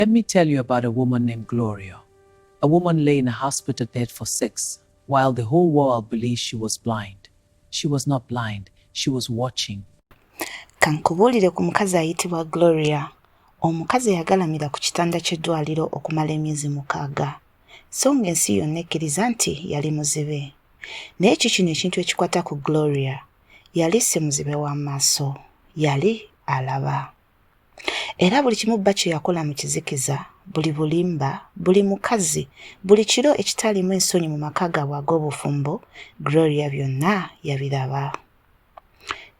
Let me tell you about a woman named Gloria. A woman lay in a hospital bed for six, while the whole world believed she was blind. She was not blind, she was watching. Kankubuulire ku mukazi ayitibwa Gloria. Omukazi yagalamira ku kitanda ky'eddwaliro okumala emyezi mukaaga, so ng'ensi yonna ekkiriza nti yali muzibe. Naye ki kino ekintu ekikwata ku Gloria? Yali si muzibe w'amaaso, yali alaba. era buli kimu bba kye yakola mu kizikiza buli bulimba buli mukazi buli kiro ekitaliimu ensonyi mu maka gaabwe ag'obufumbo gloria byonna yabiraba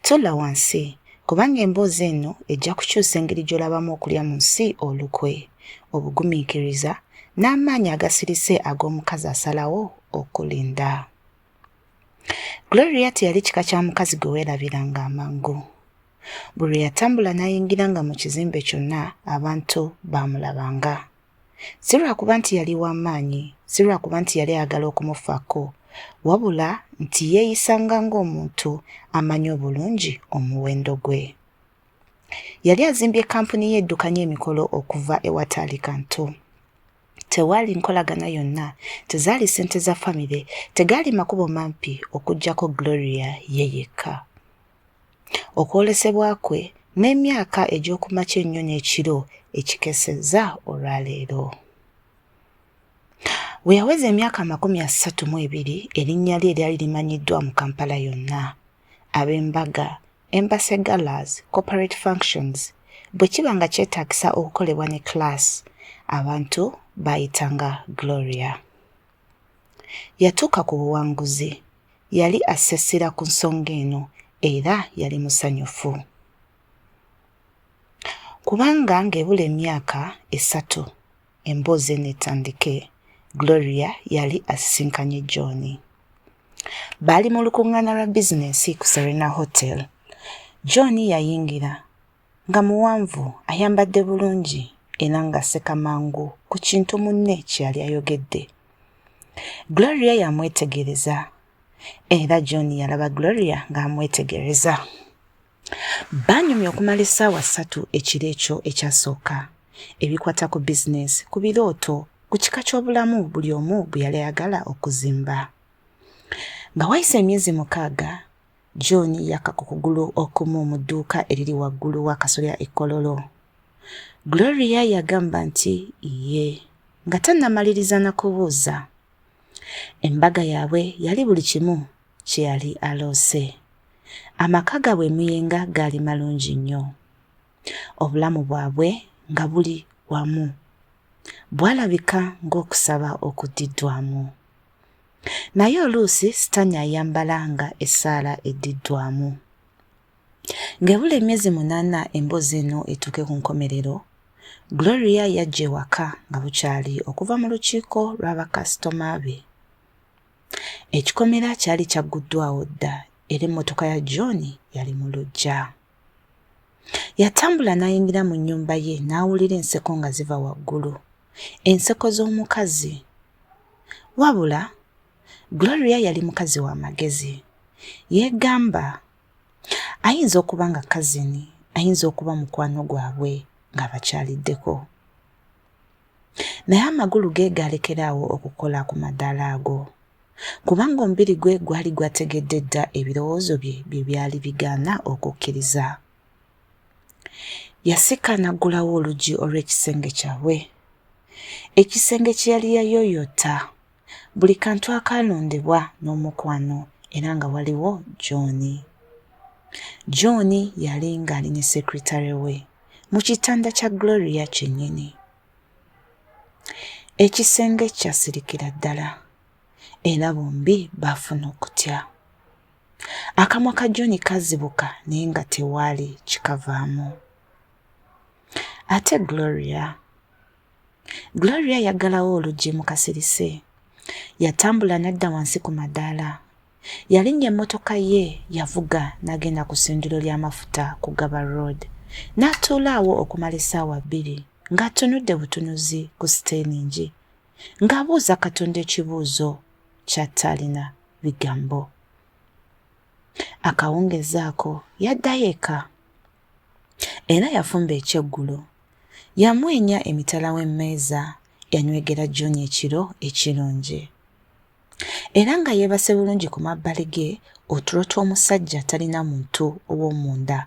tolla wansi kubanga emboozi eno ejja kukyusa engeri gy'olabamu okulya mu nsi olukwe obugumiikiriza n'amaanyi agasirise ag'omukazi asalawo okulinda gloria teyali kika kya mukazi gwe weerabiranga amangu Buli lwe yatambula n'ayingiranga mu kizimbe kyonna abantu baamulabanga. Si lwa kuba nti yali wa maanyi, si lwa kuba nti yali ayagala okumufaako, wabula nti yeeyisanga ng'omuntu amanyi obulungi omuwendo gwe. Yali azimbye kkampuni ye eddukanya emikolo okuva ewataali kantu. Tewaali nkolagana yonna, tezaali ssente za famire, tegaali makubo mampi okuggyako Gloria ye yekka. okwolesebwa kwe n'emyaka egy'okumakya ennyo n'ekiro ekikesezza olwaleero. We yaweza emyaka amakumi asatu mu ebiri erinnya lye eryali limanyiddwa mu Kampala yonna. Ab'embaga, Embassy Galas, Corporate Functions, bwe kiba nga kyetaagisa okukolebwa ne class, abantu baayitanga Gloria. Yatuuka ku buwanguzi. yali asse essira ku nsonga eno era yali musanyufu kubanga ng'ebula emyaka esatu emboozi eno etandike gloria yali asisinkanye john baali mu lukuŋŋaana lwa bizinensi ku serena hotel john yayingira Nga muwanvu, ayambadde bulungi era ng'aseka mangu ku kintu munne kye yali ayogedde. Gloria yamwetegereza era John yalaba Gloria ng'amwetegereza. Baanyumya okumala essaawa ssatu ekiro ekyo ekyasooka, ebikwata ku bizinensi, ku birooto, ku kika ky'obulamu buli omu bwe yali ayagala okuzimba. Nga wayise emyezi mukaaga, John yakka ku kugulu okumu mu dduuka eriri waggulu w'akasolya e Kololo. Gloria yagamba nti ye nga tannamaliriza na kubuuza. Embaga yaabwe yali buli kimu kye yali aloose. Amaka gaabwe emuyenga gaali malungi nnyo. Obulamu bwabwe nga buli wamu. Bwalabika ng'okusaba okuddiddwamu. Naye oluusi sitaani ayambala nga essaala eddiddwamu. Ng'ebula emyezi munaana emboozi eno etuuke ku nkomerero, Gloria yajja ewaka nga bukyali okuva mu lukiiko lwa bakasitoma be. Ekikomera kyali kyagguddwawo dda era emmotoka ya John yali mu luggya. Yatambula n'ayingira mu nnyumba ye n'awulira enseko nga ziva waggulu, enseko z'omukazi. Wabula Gloria yali mukazi wa magezi. Yeegamba ayinza okuba nga kazini, ayinza okuba mukwano gwabwe ng'abakyaliddeko. Naye amagulu ge gaalekera awo okukola ku madaala ago, kubanga omubiri gwe gwali gwategedde dda ebirowoozo bye bye byali bigaana okukkiriza. Yasika n'aggulawo oluggi olw'ekisenge kyabwe, ekisenge kye yali yayooyoota. Buli kantu akaalondebwa n'omukwano era nga waliwo John. John yali ng'ali ne sekretare we mu kitanda kya Gloria kyennyini. Ekisenge kyasirikira ddala era bombi baafuna okutya. Akamwa ka John kazibuka naye nga tewaali kikavaamu. Ate Gloria Gloria yaggalawo oluggi mu kasirise. Yatambula n'adda wansi ku madaala. Yalinnya emmotoka ye, yavuga n'agenda ku ssundiro ly'amafuta ku Gaba Road. N'atuula awo okumala essaawa bbiri ng'atunudde butunuzi ku siteeringi ng'abuuza Katonda ekibuuzo ky'ataalina bigambo. Akawungeezi ako yaddayo eka. Era yafumba ekyeggulo. Yamwenya emitala w'emmeeza, yanywegera John ekiro ekirungi. Era nga yeebase bulungi ku mabbali ge otulo tw'omusajja talina muntu ow'omunda.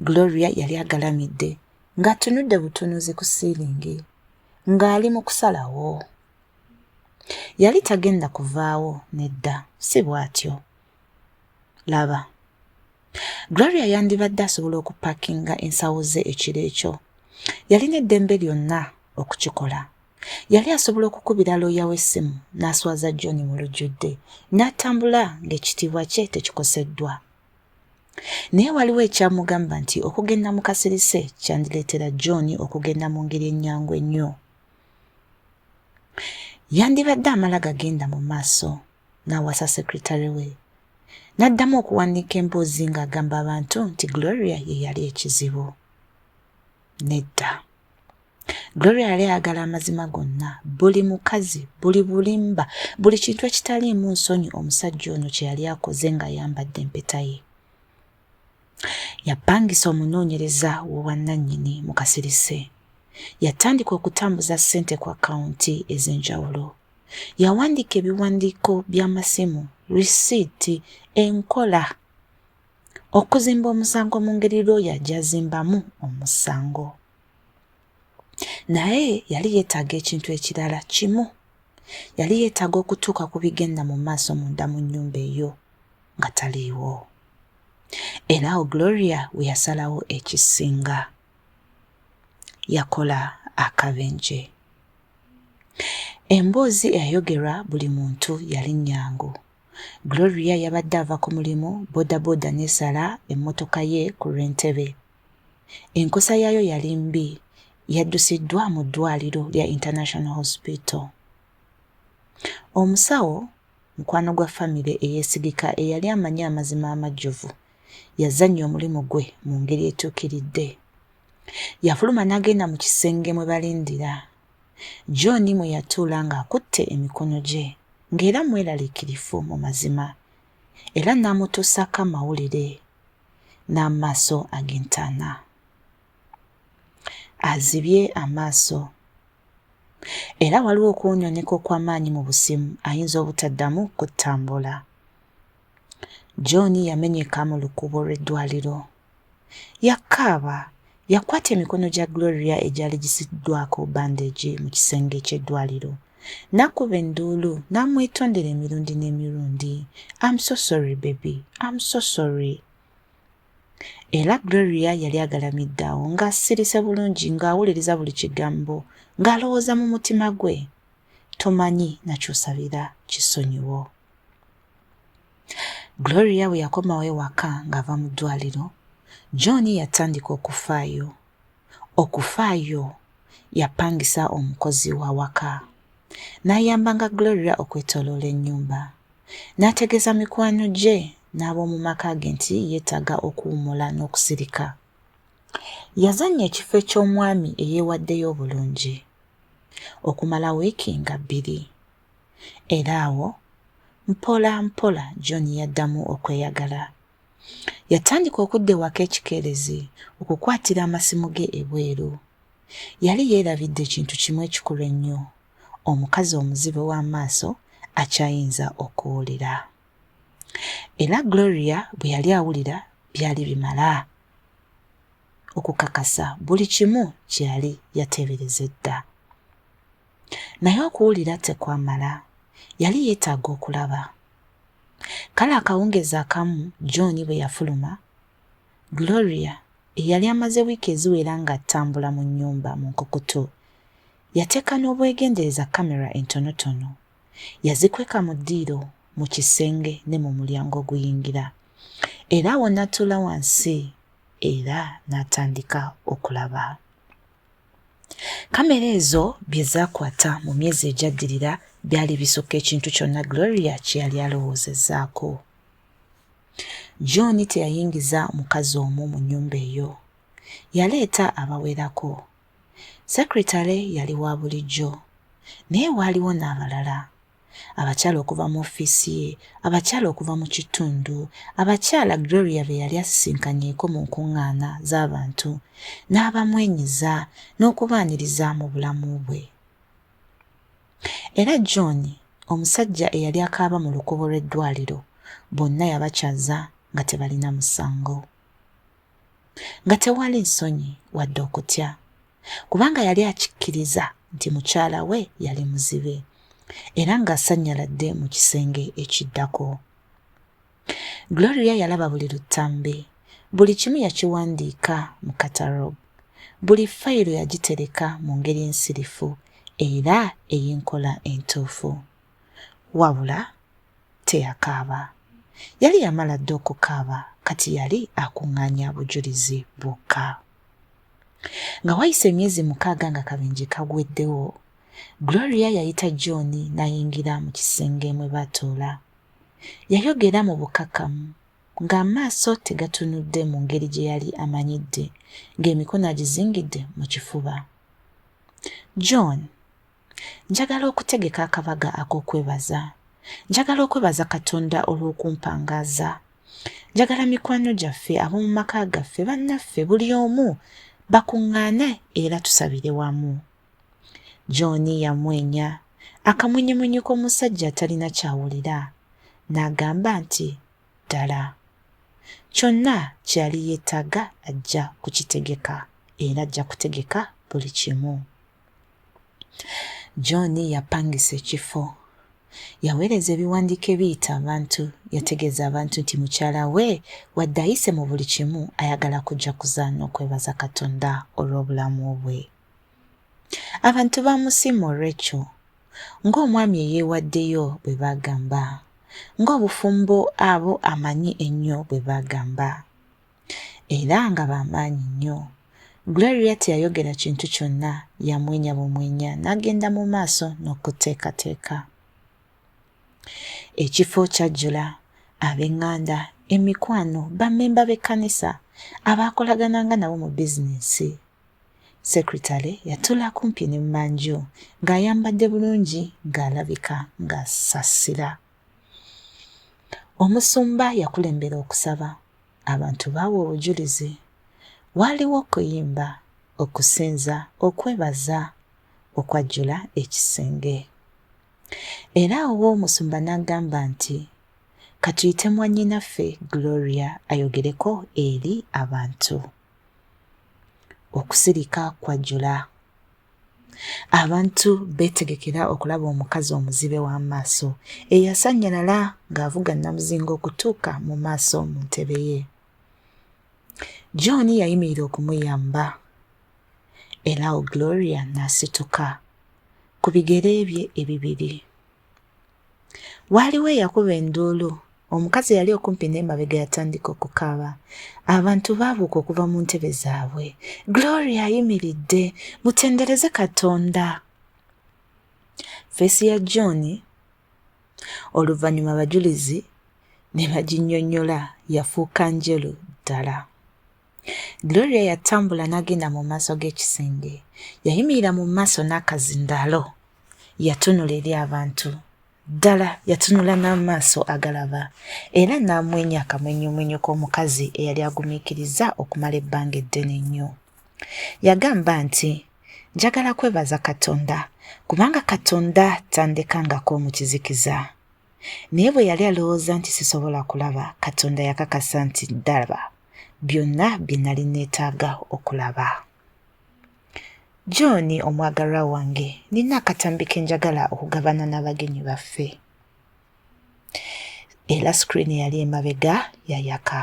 Gloria yali agalamidde ng'atunudde butunuzi ku siiringi ng'ali mu kusalawo. Yali tagenda kuvaawo, nedda, si bw'atyo. laba gloria yandibadde asobola okupakinga ensawo ze ekiro ekyo yalina eddembe lyonna okukikola yali asobola okukubira looya w'essimu n'aswaza john mu lujjudde n'atambula ng'ekitiibwa kye tekikoseddwa naye waliwo ekyamugamba nti okugenda mu kasirise kyandireetera john okugenda mu ngeri ennyangu ennyo yandibadde amala gagenda mu maaso n'awasa sekretary we n'addamu okuwandiika emboozi ng'agamba abantu nti gloria ye yali ekizibu nedda gloria yali ayagala amazima gonna buli mukazi buli bulimba buli kintu ekitaliimu nsonyi omusajja ono kye yali akoze ng'ayambadde empeta ye yapangisa omunoonyereza w'obwannannyini mu kasirise yatandika okutambuza ssente ku akawunti ez'enjawulo yawandiika ebiwandiiko by'amasimu risiiti enkola okuzimba omusango mu ngeri looya gyazimbamu omusango naye yali yeetaaga ekintu ekirala kimu yali yeetaaga okutuuka ku bigenda mu maaso munda mu nnyumba eyo nga taliiwo era awo gloria we yasalawo ekisinga yakola akabenje Emboozi eyayogerwa buli muntu yali nnyangu. Gloria yabadde ava ku mulimu bodaboda n'esala emmotoka ye ku lw'e Ntebe. Enkosa yaayo yali mbi, yaddusiddwa mu ddwaaliro lya International Hospital. Omusawo, mukwano gwa famire eyeesigika eyali amanyi amazima amajjuvu, yazannya omulimu gwe mu ngeri etuukiridde. Yafuluma n'agenda mu kisenge mwe balindira John mwe yatuula ng'akutte emikono gye ng'era mweraliikirifu mu mazima era n'amutuusaako amawulire n'amaaso ag'entaana. Azibye amaaso era waliwo okuwunyoneka okw'amaanyi mu busimu ayinza obutaddamu kutambula. John yamenyeka mu lukuubo lw'eddwaliro Yakaaba, yakwata emikono gya Gloria egyali gisiddwako bandeegi mu kisenge ky'eddwaliro. N'akuba enduulu, n'amwetondera emirundi n'emirundi. I'm so sorry baby, I'm so sorry. Era Gloria yali agalamidde awo ng'asirise bulungi ng'awuliriza buli kigambo ng'alowooza mu mutima gwe. Tomanyi nakyosabira kisonyiwo. Gloria bwe yakomawo ewaka ng'ava mu ddwaliro, John yatandika okufaayo. Okufaayo yapangisa omukozi w'awaka n'ayambanga Gloria okwetoloola ennyumba. N'ategeeza mikwano gye n'ab'omu maka ge nti yeetaaga okuwummula n'okusirika. Yazannya ekifo eky'omwami eyeewaddeyo obulungi okumala wiiki nga bbiri. era awo mpola mpola John yaddamu okweyagala. Yatandika okudda ewaka ekikeerezi okukwatira amasimu ge ebweru. Yali yeerabidde ekintu kimu ekikulu ennyo, omukazi omuzibe w'amaaso akyayinza okuwulira. Era Gloria bwe yali awulira byali bimala okukakasa buli kimu kye yali yateebereza edda. naye okuwulira tekwamala. Yali yeetaaga okulaba. Kale akawungeezi akamu John bwe yafuluma, Gloria, eyali amaze wiiki eziwera ng'atambula mu nnyumba mu nkukutu, yateeka n'obwegendereza kkamera entonotono. Yazikweka mu ddiiro, mu kisenge, ne mu mulyango oguyingira. Era awo n'atuula wansi era n'atandika okulaba. Kamera ezo bye zaakwata mu myezi egyaddirira byali bisukka ekintu kyonna Gloria kye yali alowoozezzaako. John teyayingiza mukazi omu mu nnyumba eyo. Yaleeta abawerako. Sekretale yali wa bulijjo, naye waaliwo n'abalala. abakyala okuva mu ofiisi ye, abakyala okuva mu kitundu, abakyala Gloria be yali asisinkanyeko mu nkuŋŋaana z'abantu, n'abamwenyiza n'okubaaniriza mu bulamu bwe. Era John, omusajja eyali akaaba mu lukubo lw'eddwaliro, bonna yabakyaza nga tebalina musango, nga tewali nsonyi wadde okutya. kubanga yali akikkiriza nti mukyala we yali muzibe era ng'asanyaladde mu kisenge ekiddako. Gloria yalaba buli luttambe, buli kimu yakiwandiika mu katalog, buli fayiro yagitereka mu ngeri ensirifu era ey'enkola entuufu. Wabula teyakaaba. Yali yamala dda okukaaba kati yali akuŋŋaanya bujulizi bwokka. Nga wayise emyezi mukaaga nga kabenje kagweddewo, Gloria yayita John n'ayingira mu kisenge mwe baatuula. Yayogera mu bukkakkamu ng'amaaso tegatunudde mu ngeri gye yali amanyidde, ng'emikono agizingidde mu kifuba. John, Njagala okutegeka akabaga ak'okwebaza. Njagala okwebaza Katonda olw'okumpangaaza. Njagala mikwano gyaffe ab'omu maka gaffe bannaffe buli omu bakuŋŋaane era tusabire wamu. John yamwenya akamwenyemwenye k'omusajja atalina kyawulira n'agamba nti ddala kyonna kye yali yeetaaga ajja kukitegeka era ajja kutegeka buli kimu. John yapangisa ekifo. Yaweereza ebiwandiiko ebiyita abantu. Yategeeza abantu nti mukyala we wadde ayise mu buli kimu ayagala kujakuza n'okwebaza Katonda olw'obulamu bwe. Abantu baamusiima olw'ekyo. Ng'omwami eyeewaddeyo bwe baagamba. Ng'obufumbo abo amanyi ennyo bwe baagamba. era nga ba maanyi nnyo. Gloria teyayogera kintu kyonna, yamwenya bumwenya n'agenda mu maaso n'okuteekateeka. Ekifo kyajjula ab'eŋŋanda, emikwano, bammemba b'ekkanisa, abaakolagananga nabo mu bizinensi. Sekretale yatula kumpi ne mmanju ng'ayambadde bulungi ng'alabika ng'asasira. Omusumba yakulembera okusaba, abantu baawa obujulizi. Waaliwo okuyimba, okusinza, okwebaza okwajjula ekisenge. Era awo omusumba n'agamba nti, Ka tuyite mwannyinaffe Gloria ayogereko eri abantu. Okusirika kwajjula. Abantu beetegekera okulaba omukazi omuzibe w'amaaso eyasannyalala ng'avuga nnamuzinga okutuuka mu maaso mu ntebe ye. John yayimirira okumuyamba. Eraawo Gloria n'asituka ku bigere bye ebibiri. Waaliwo eyakuba enduulu. Omukazi eyali okumpi n'emabega yatandika okukaaba. Abantu baabuuka okuva mu ntebe zaabwe. Gloria ayimiridde! Mutendereze Katonda! Feesi ya John oluvannyuma abajulizi ne baginnyonnyola yafuuka njeru ddala. Gloria yatambula n'agenda mu maaso g'ekisenge. Yayimirira mu maaso n'akazindaalo. Yatunula eri abantu. Ddala yatunula n'amaaso agalaba era n'amwenya akamwenyumwenyu k'omukazi eyali agumiikiriza okumala ebbanga eddene ennyo. Yagamba nti, Njagala kwebaza Katonda, kubanga Katonda tandekangako mu kizikiza. naye bwe yali alowooza nti sisobola kulaba katonda yakakasa nti ddalaba byonna bye nali neetaaga okulaba john omwagalwa wange nina akatambi ke njagala okugabana n'abagenyi baffe era sikiriini yali emabega yayaka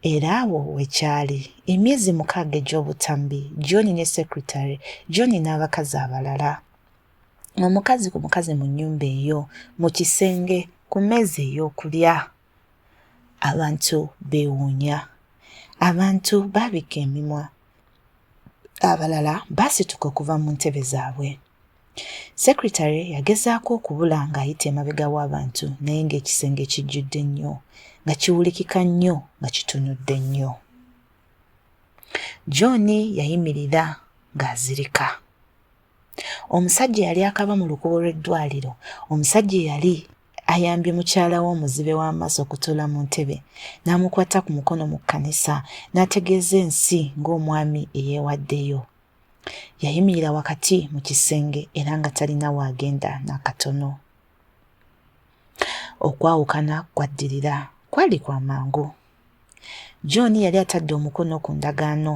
era awo wekyali emyezi mukaaga egy'obutambi john ne secretary john n'abakazi abalala omukazi ku mukazi mu nnyumba eyo mu kisenge ku mmeeza ey'okulya abantu beewuunya abantu baabikka emimwa abalala baasituka okuva mu ntebe zaabwe sekretary yagezaako okubula ng'ayita emabega w'abantu naye ng'ekisenge kijjudde nnyo nga kiwulikika nnyo nga kitunudde nnyo john yayimirira ng'azirika omusajja eyali akaba mu lukubo lw'eddwaliro omusajja eyali ayambye mukyala we omuzibe w'amaaso okutuula mu ntebe n'amukwata ku mukono mu kkanisa n'ategeeza ensi ng'omwami eyeewaddeyo yayimirira wakati mu kisenge era nga talina waagenda n'akatono okwawukana kwaddirira kwali kwa mangu john yali atadde omukono ku ndagaano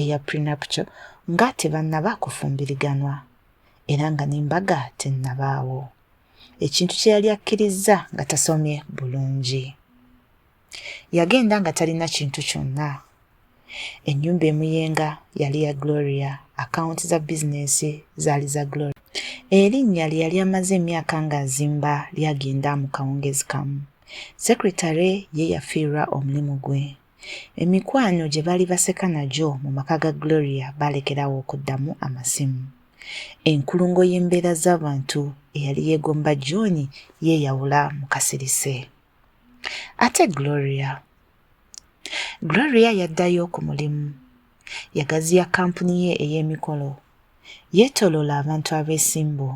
eya prenuptial nga tebannaba kufumbiriganwa era nga n'embaga tennabaawo ekintu kye yali akkirizza nga tasomye bulungi Yagenda nga talina kintu kyonna. Ennyumba emuyenga yali ya Gloria, akawunti za bizinensi zaali za Gloria. Erinnya lye yali amaze emyaka ng'azimba lyagenda mu kawungeezi kamu. Sekretale ye yafiirwa omulimu gwe. Emikwano gye baali baseka nagyo mu maka ga Gloria baalekerawo okuddamu amasimu. Enkulungo y'embeera z'abantu eyali yeegomba John yeeyawula mu kasirise. ate gloria gloria yaddayo ku mulimu yagaziya kampuni ye ey'emikolo yeetoloola abantu abeesimbu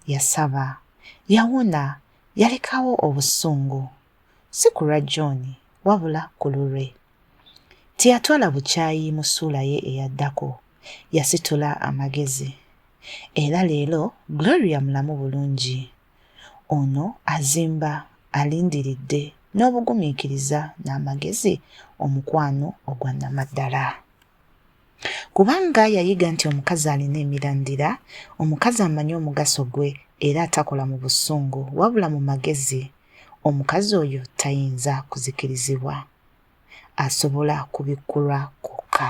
yasaba yawona yalekawo obusungu si ku lwa john wabula ku lulwe teyatwala bukyayi mu ssuula ye eyaddako yasitula amagezi era leero gloria mulamu bulungi Ono azimba alindiridde n'obugumiikiriza n'amagezi omukwano ogwa nnamaddala. Kubanga yayiga nti omukazi alina emirandira, omukazi amanyi omugaso gwe era atakola mu busungu wabula mu magezi, omukazi oyo tayinza kuzikirizibwa. Asobola kubikkulwa kwokka.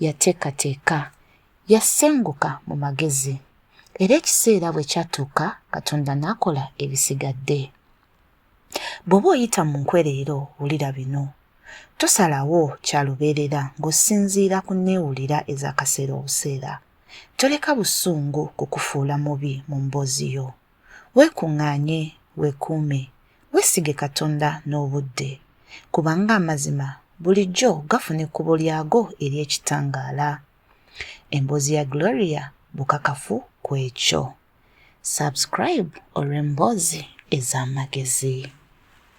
yateekateeka, yasenguka mu magezi, era ekiseera bwe kyatuuka Katonda n'akola ebisigadde. Bw'oba oyita mu nkwe leero, wulira bino. Tosalawo kya lubeerera ng'osinziira ku nneewulira ez'akaseera obuseera. Toleka busungu kukufuula mubi mu mboozi yo. Weekuŋŋaanye, weekuume, weesige Katonda n'obudde, kubanga amazima bulijjo gafuna ekkubo lyago ery'ekitangaala. Emboozi ya Gloria bukakafu ku ekyo. Subscribe olw'emboozi ez'amagezi.